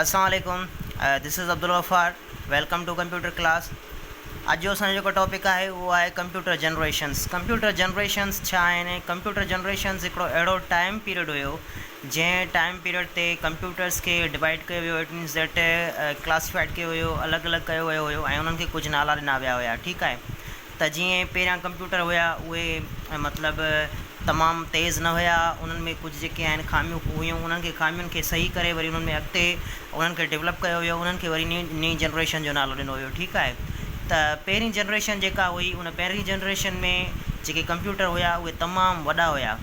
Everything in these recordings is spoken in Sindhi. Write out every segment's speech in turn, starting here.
السلام عليڪم this is Abdul Ghaffar welcome to computer class اڄ جو اسان جو جيڪو ٽاپڪ آهي اهو آهي ڪمپيوٽر جنريشنس ڪمپيوٽر جنريشنس ڇا آهن ۽ ڪمپيوٽر جنريشنس هڪڙو اهڙو ٽائيم پيريڊ هيو جنهن ٽائيم پيريڊ تي ڪمپيوٽرس کي ڊوائيڊ ڪيو ويو ايٽ مينس ڊيٽ ڪلاسيفائيڊ ڪيو ويو الڳ الڳ ڪيو ويو هيو ۽ انهن کي ڪجهه نالا ڏنا ويا هيا ٺيڪ آهي ته جيئن پهريان ڪمپيوٽر هيا اهي مطلب تمام تيز نه هيا انهن ۾ ڪجهه جيڪي آهن خاميون هيون انهن کي خامين کي صحيح ڪري وري انهن ۾ اڳتي انهن کي ڊولپ ڪيو ويو انهن کي وري نئين جنريشن جو نالو ڏنو ويو ٺيڪ آهي ته پهرين جنريشن جيڪا هئي ان پهرين جنريشن ۾ جيڪي ڪمپيوٽر هيا اهي تمام وڏا هيا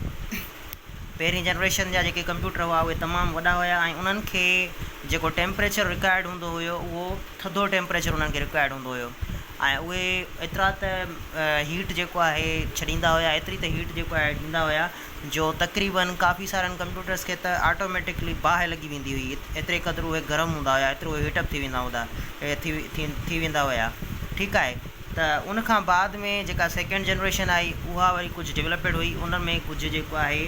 پهرين جنريشن جا جيڪي ڪمپيوٽر هئا اهي تمام وڏا هيا ۽ انهن کي جيڪو ٽيمپريچر رڪوائرڊ هوندو هيو اهو ٿڌو ٽيمپريچر انهن کي رڪوائرڊ هوندو هيو ۽ اهي ايترا ته هيٽ جيڪو آهي ڇڏيندا هيا ايتري ته هيٽ جيڪو آهي ڏيندا هيا جو تقريبن ڪافي سارن ڪمپيوٽرس کي ته آٽوميٽڪلي باهه لڳي ويندي هئي ايتري قدر اهي گرم هوندا هيا ايترو هيٽ اپ ٿي ويندا هوندا ٿي ٿي ويندا هيا ٺيڪ آهي ته ان کان بعد ۾ جيڪا سيڪنڊ جنريشن آئي اها وري ڪجهه ڊولپڊ هئي ان ۾ ڪجهه جيڪو آهي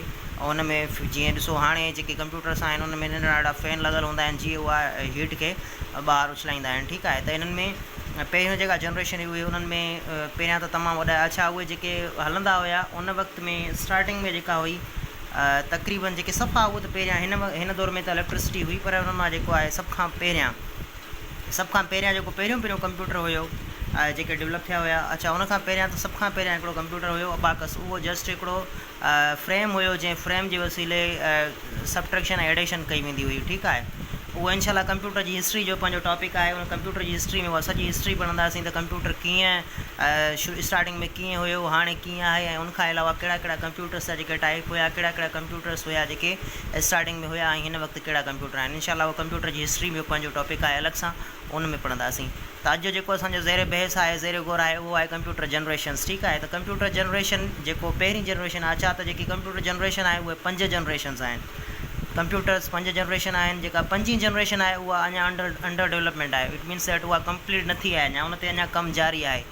ان ۾ جيئن ڏسو هاڻي جيڪي ڪمپيوٽرس آهن ان ۾ ننڍڙا ننڍڙا فين لڳل هوندا آهن جيئن اها هيٽ کي ٻاهر اڇلائيندا آهن ٺيڪ آهي ته انهن ۾ پهريون جيڪا جنريشن هئي اهي انهن ۾ پهريان ته تمام وڏا اڇا اهي جيڪي هلندا هيا ان وقت ۾ اسٽارٽنگ ۾ جيڪا هئي تقريبن جيڪي صفا اهو ته پهريان هن هن دور ۾ ته اليڪٽرسٽي هئي پر ان مان جيڪو آهي سڀ کان پهريان سڀ کان پهريان جيڪو پهريون پهريون ڪمپيوٽر هيو جيڪي ڊولپ ٿيا هيا اڇا ان کان پهريان ته سڀ کان پهريان هڪڙو ڪمپيوٽر هيو اباڪس اهو جسٽ هڪڙو فريم هيو جنهن فريم جي وسيلي سبٽريڪشن ۽ ايڊيشن ڪئي ويندي هئي ٺيڪ آهي اهو انشاء الله ڪمپيوٽر جي هسٽري جو پنهنجو ٽاپڪ آهي ان ڪمپيوٽر جي هسٽري ۾ سڄي هسٽري پڙهنداسين ته ڪمپيوٽر ڪيئن اسٽارٽنگ ۾ ڪيئن هيو هاڻي ڪيئن آهي ۽ ان کان علاوه ڪهڙا ڪهڙا ڪمپيوٽرس جا جيڪي ٽائپ هيا ڪهڙا ڪهڙا ڪمپيوٽرس هيا جيڪي اسٽارٽنگ ۾ هيا ۽ هن وقت ڪهڙا ڪمپيوٽر آهن. انشاء الله اهو ڪمپيوٽر جي هسٽري ۾ پنهنجو ٽاپڪ آهي الڳ سان ان ۾ پڙهنداسين. ته اڄ جو جيڪو اسان جو زير بحث آهي، زير غور آهي اهو آهي ڪمپيوٽر جنريشنز ٺيڪ آهي ته ڪمپيوٽر جنريشن جيڪو پهرين جنريشن آهي ڇا ته جيڪي ڪمپيوٽر جنريشن آهي اهي پنج جنريشنز آهن ڪمپيوٽرز پنج جنريشن آهن جيڪا پنجين جنريشن آهي اها اڃا انڊر انڊر ڊولپمينٽ آهي اٽ مينز ڏيٽ اها ڪمپليٽ نه ٿي آهي اڃا ان تي اڃا ڪم جاري آهي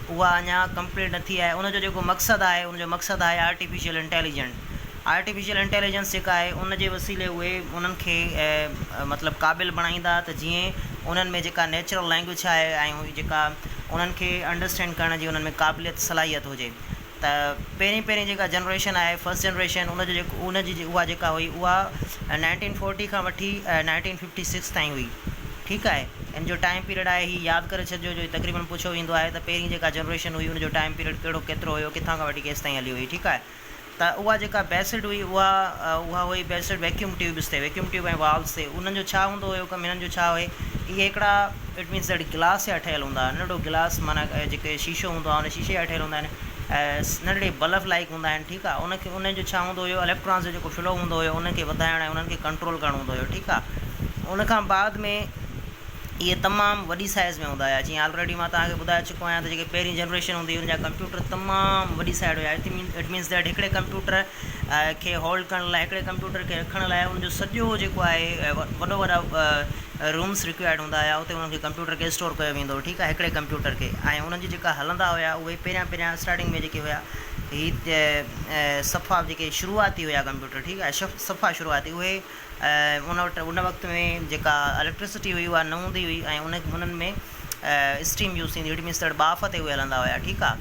اها اڃا ڪمپليٽ نه ٿي آهي ان جو جيڪو مقصد آهي ان جو مقصد آهي آرٽيفيشل انٽيليجنٽ آرٽيفيشل انٽيليجنس جيڪا آهي ان جي وسيلي اهي انهن کي مطلب قابل بڻائيندا ته جيئن انهن ۾ جيڪا نيچرل لينگويج ڇا آهي ۽ هي جيڪا انهن کي انڊرسٽينڊ ڪرڻ جي انهن ۾ قابليت صلاحيت هجي ته پهرين پهرين جيڪا جنريشن آهي فسٽ جنريشن ان جو جيڪو ان جي اها جيڪا هئي اها نائنٽين فورٽي کان وٺي نائنٽين ففٽي سڪس تائين هئي ٺيڪ آهي ان جو ٽائم پيريڊ آهي هي ياد ڪري ڇڏجو جو هي تقريبن پڇيو ويندو آهي ته پهرين جيڪا جنريشن هئي ان جو ٽائم پيريڊ ڪهڙو ڪيترو هيو ڪٿان کان وٺي ڪيستائين هلي هئي ٺيڪ آهي ته اها جيڪا بيسڊ هئي اها اها هئي بيسڊ ويڪيوم ٽيوبس تي ويڪيوم ٽيوب ۽ والوز تي انهن جو ڇا هوندو هيو ڪم هنن جو ڇا هئي اهي هڪڙا اٽ مينس ڏيڍ گلاس جا ٺهيل هوندا هئا ننڍڙو گلاس معنيٰ جيڪي شيشو هوندو آهي ان شيشي جا ٺهيل هوندا آهن ننڍڙي بلف لائق هوندا آهن ٺيڪ آهي ان کي ان جو ڇا هوندو هيو اليڪٽرانس جو جيڪو فلو هوندو هيو انهن کي وڌائڻ ۽ انهن کي ڪنٽرول ڪرڻو هوندو هيو ٺيڪ آهي ان کان بعد ۾ اهي تمام وڏي سائز ۾ هوندا هيا جيئن آلريڊي مان توهان کي ٻڌائي چڪو پويان ته جيڪي پهرين جنريشن هوندي هئي ان جا ڪمپيوٽر تمام وڏي سائيڊ هيا اٽ مين اٽ مينس ڏيڍ هڪڙي ڪمپيوٽر کي هولڊ ڪرڻ لاء هڪڙي ڪمپيوٽر کي رکڻ لاء ان جو سڄو جيڪو آهي وڏو وڏا رومس ريڪوائرڊ هوندا هيا اتي ان کي ڪمپيوٽر کي اسٽور ڪيو ويندو هو ٺيڪ آهي هڪڙي ڪمپيوٽر کي ۽ ان جي جيڪا هلندا هيا اهي پهريان پهريان اسٽارٽنگ ۾ جيڪي هيا هي صفا جيڪي شروعاتي هيا ڪمپيوٽر ٺيڪ آهي صفا شروعاتي اهي ان وٽ ان وقت ۾ جيڪا اليڪٽرسٽي هئي اها نه هوندي هئي ۽ ان هنن ۾ اسٽيم يوز ٿيندي هئي اٽ مينس ٻاڦ تي هلندا هيا ٺيڪ آ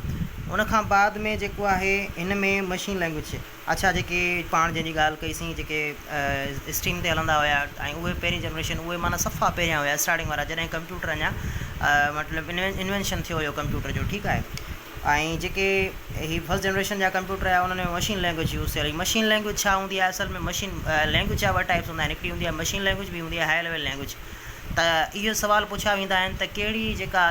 ان کان بعد ۾ جيڪو آهي هن ۾ مشين لينگويج اڇا جيڪي پاڻ جنهن جي ڳالهه ڪئي سين جيڪي اسٽيم تي هلندا هيا ۽ اهي پهرين جنريشن اهي معنيٰ صفا پهريان هيا اسٽارٽنگ وارا جڏهن ڪمپيوٽر اڃا مطلب انوينشن ٿيو هيو ڪمپيوٽر جو ٺيڪ آهي ۽ جيڪي هي فرسٽ جنريشن جا ڪمپيوٽر هيا انهن ۾ مشين لينگويج يوز ٿيل هئي مشين لينگويج ڇا هوندي آهي اصل ۾ مشين لينگويج جا ٻه ٽائپس هوندا آهن هڪڙي هوندي آهي مشين لينگويج ٻي هوندي آهي هاء ليول لينگويج ته اهو سوال پڇيا ويندا آهن ته ڪهڙي جيڪا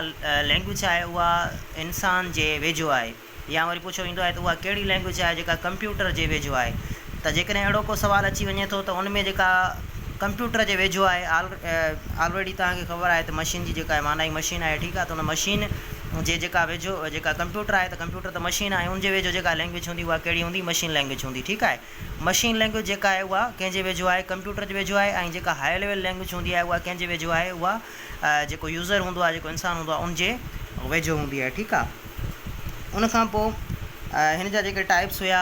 لينگويج آهي اها انسان جي ويجهو آهي يا وري پڇيو ويندو آهي ته اها ڪهڙي لينگويج آهي جيڪا ڪمپيوٽر جي ويجهو آهي ته جيڪڏهن اهڙو ڪو سوال اچي وڃي ٿو ته ان ۾ جيڪا ڪمپيوٽر جي ويجهو آهي آلريڊي توهان کي خبر آهي ته مشين جي جيڪا مانائي مشين آهي ٺيڪ آهي ته ان مشين جي جيڪا ويجهو جيڪا ڪمپيوٽر آهي ته ڪمپيوٽر ته مشين آهي ان جي ويجهو جيڪا لينگويج هوندي اها ڪهڙي هوندي مشين لينگويج هوندي ٺيڪ آهي مشين لينگويج جيڪا آهي اها ڪنهن جي ويجهو آهي ڪمپيوٽر جي ويجهو آهي ۽ جيڪا هاء ليول لينگويج هوندي آهي اها ڪنهن جي ويجهو آهي اها جيڪو يوزر هوندو آهي جيڪو انسان هوندو آهي ان جي ويجهو هوندي آهي ٺيڪ آهي ان کان پوء هن جا جيڪي ٽائپس هيا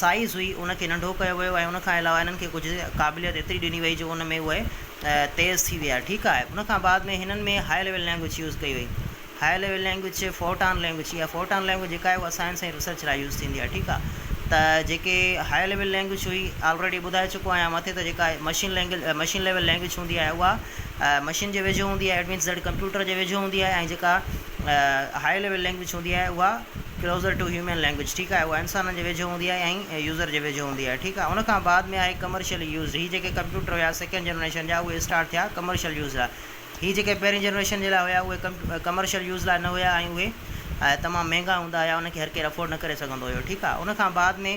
سائيز هئي ان کي ننڍو ڪيو ويو ۽ ان کان علاوه هنن کي ڪجهه قابليت ايتري ڏني وئي جو ان ۾ اهي تيز ٿي ويا ٺيڪ آهي ان کان بعد ۾ هنن ۾ هاء ليول لينگويج يوز ڪئي وئي high level language Fortran language اها فورٽان لينگويج جيڪا آهي اها سائنس ۽ ريسرچ لاء يوز ٿيندي آهي ٺيڪ آهي ته جيڪي هاء ليول لينگويج هئي آلريڊي ٻڌائي چڪو آهيان مٿي ته جيڪا machine language machine level language هوندي آهي اها مشين جي ويجهو هوندي آهي ايٽ مينس ڪمپيوٽر جي ويجهو هوندي آهي ۽ جيڪا هاء ليول لينگويج هوندي آهي اها Closer to Human Language ٺيڪ آهي اها انسانن جي ويجهو هوندي آهي ۽ يوزر جي ويجهو هوندي آهي ٺيڪ آهي ان کان بعد ۾ آهي ڪمرشلي يوزڊ هي جيڪي ڪمپيوٽر هيا سيڪنڊ جنريشن جا اهي اسٽارٽ ٿيا ڪمرشل يوز لاء هي جيڪي پهرين جنريشن جي لاء هيا اهي ڪمرشل يوز لاء نه هيا ۽ اهي تمام مهنگا هوندا هيا ان کي هر ڪير افورڊ نه ڪري سگهندو هيو ٺيڪ آهي ان کان بعد ۾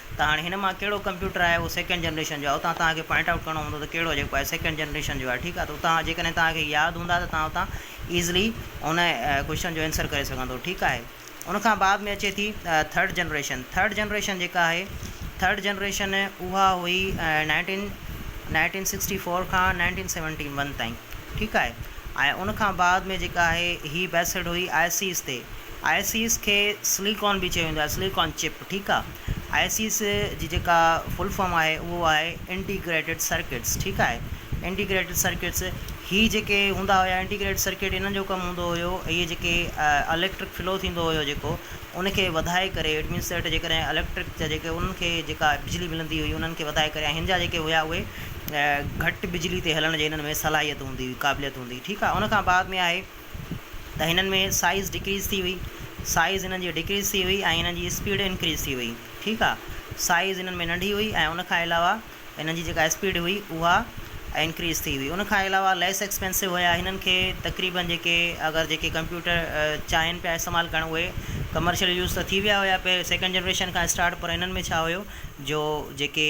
ته هاڻي هن مان ڪهڙو ڪمپيوٽر آهي اهو سيڪنڊ جنريشن جو آهي اتان توهان کي پوائنٽ آئوٽ ڪرڻو هوندو ته ڪهڙو جيڪو آهي سيڪنڊ جنريشن جو آهي ٺيڪ آهي ته اتان جيڪڏهن توهان کي ياد هوندا ته توهان اتان ايزلي ان ڪوشچن جو آنسر ڪري سگهندو ٺيڪ آهي ان کان بعد ۾ اچي ٿي ٿرڊ جنريشن ٿرڊ جنريشن جيڪا آهي ٿرڊ جنريشن اها هئي نائنٽين نائنٽين سڪسٽي فور کان نائنٽين سيونٽي ون تائين ٺيڪ آهي ۽ ان کان بعد ۾ جيڪا آهي هي بيسڊ هئي آئي سيز تي آئي سيز کي سليڪون به چيو ويندو آهي سليڪون چپ ٺيڪ آ آئسيس جي جيڪا فل فارم آهي اهو آهي انٽيگريٽيڊ سرڪٽس ٺيڪ آهي انٽيگريٽيڊ سرڪٽس هي جيڪي هوندا هيا انٽيگريٽيڊ سرڪٽ هنن جو ڪم هوندو هيو هي جيڪي اليڪٽرڪ فلو ٿيندو هيو جيڪو ان کي وڌائي ڪري اٽ مينس ته جيڪڏهن اليڪٽرڪ جا جيڪي انهن کي جيڪا بجلي ملندي هئي انهن کي وڌائي ڪري هن جا جيڪي هيا اهي گهٽ بجلي تي هلڻ جي هنن ۾ صلاحيت هوندي هئي قابليت هوندي هئي ٺيڪ آ ان کان بعد ۾ آهي ته هنن ۾ سائيز ڊڪريز ٿي هئي سائيز هنن جي ڊڪريز ٿي هئي ۽ هنن جي اسپيڊ انڪريز ٿي هئي ٺيڪ آ سائيز هنن ۾ ننڍي هئي ۽ ان کان علاوه هنن جي جيڪا اسپيڊ هئي اها انڪريز ٿي هئي ان کان علاوه ليس ايڪسپينسو هيا هنن کي تقريبن جيڪي اگر جيڪي ڪمپيوٽر چاهين پيا استعمال ڪرڻ اهي ڪمرشل يوز ته ٿي ويا هيا پهرين سيڪنڊ جنريشن کان اسٽارٽ پر هنن ۾ ڇا هيو جو جيڪي